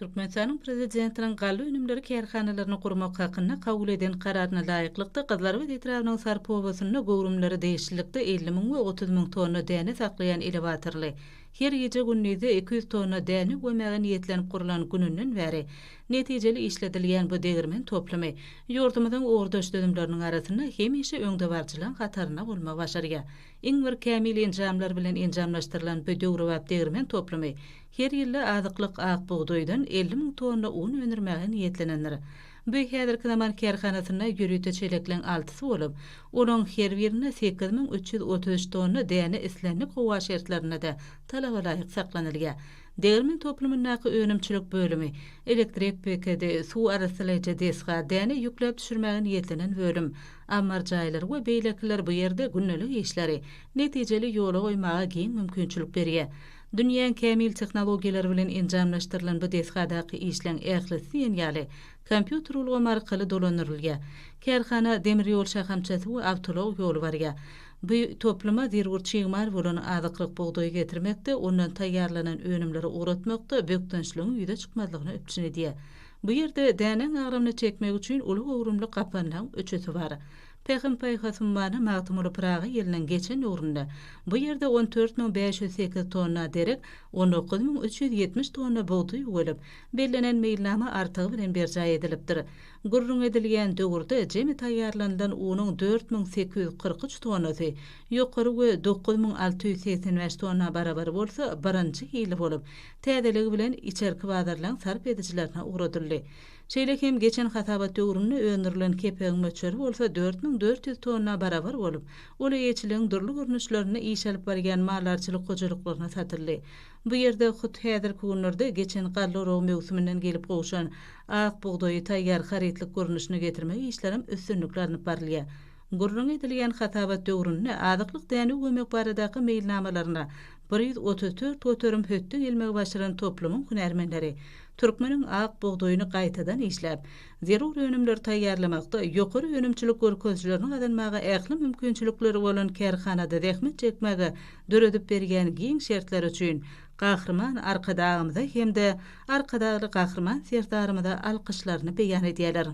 Türkmenistanyň Prezidentiniň galla önümleri kärhanalaryny gurmak hakynda kabul eden Kararyna laýyklykda, Gyzlarbat etrabynyň Sarp obasynda göwrümleri degişlilikde elli müň we otuz müň tonna däne saklaýan elewatorly, her gije-gündizi iki ýüz tonna däne gömäge niýetlenip gurlan gününden bäri netijeli işledilýän bu degirmen toplumy ýurdumyzyň ugurdaş düzümleriniň arasynda hemişe öňdebaryjylaryň hatarynda bolmagy başarýar. Iň bir kämil enjamlar bilen enjamlaşdyrylan bu döwrebap degirmen toplumy Her ýylda azyklyk ak bugdaýdan elli müň tonna un öndürmäge niýetlenendir. Bu häzirki zaman kärhanasynda ýörite çelekleň altysy bolup, olaryň her birinde sekiz müň üç ýüz otuz üç tonna däne islendik howa şertlerinde-de talabalaýyk saklanylýar. Degirmen toplumyndaky önümçilik bölümi, elektrik bekedi, suw arassalaýjy desga, däne ýükläp düşürmäge niýetlenen bölüm, ammar jaýlary we beýlekiler bu ýerde gündelik işleri netijeli ýola goýmaga giň mümkinçilik berýär. Dünýäň kämil tehnologiýalary bilen enjamlaşdyrylan bu desgadaky işleň ählisi diýen ýaly kompýuter ulgamy arkaly dolandyrylýar. Kärhana demir ýol şahamçasy we awtoulag ýoly barýar. Bu topluma zerur çig mal bolan azyklyk bugdaýy getirmekde, ondan taýýarlanan önümleri ugratmakda bökdençligiň ýüze çykmazlygyny üpjün edýär. Bu ýerde dänäň agramyny çekmek üçin uly göwrümli gapanlaň öçüsi bar. Pähim-paýhasymmana Magtymguly Pyragy ýylynyň geçen döwründe bu ýerde on dört müň bäş ýüz sekiz tonna derek, on dokuz müň üç ýüz ýetmiş tonna bugdaý üwelip, bellenen meýilnama artygy bilen berjaý edilipdir. Gürrüňi edilýän döwürde jemi taýýarlanylan unuň dört müň sekiz ýüz kyrk üç tonnasy, ýokary we dokuz müň alty ýüz segsen bäş tonna barabar bolsa birinji hili bolup, täzeligi bilen içerki bazarlaryň sarp edijilerine ugradyldy. Şeýle hem geçen hasabat döwründe öndürilen kepegiň möçberi bolsa dört müň dört ýüz tonna barabar bolup, ol eýeçiligiň dürli görnüşlerinde iş alyp barýan maldarçylyk hojalyklaryna satyldy. Bu ýerde hut häzirki günlerde geçen galla oragy möwsüminden gelip gowşan ak bugdaýy taýýar harytlyk görnüşine getirmek işlerem üstünlikli alnyp barylýar. Gürrüňi edilýän hasabat döwründe azyklyk dänew gömek baradaky meýilnamalaryna bir ýüz otuz dört göterim hötde gelmegi başaran toplumyň hünärmenleri türkmeniň ak bugdaýyny gaýtadan işläp, zerur önümleri taýýarlamakda ýokary önümçilik görkezijilerini gazanmaga ähli mümkinçilikleri bolan kärhanada zähmet çekmäge döredip berýän giň şertleri üçin Gahryman Arkadagymyza hem-de Arkadagly Gahryman Serdarymyza alkyşlaryny beýan edýärler.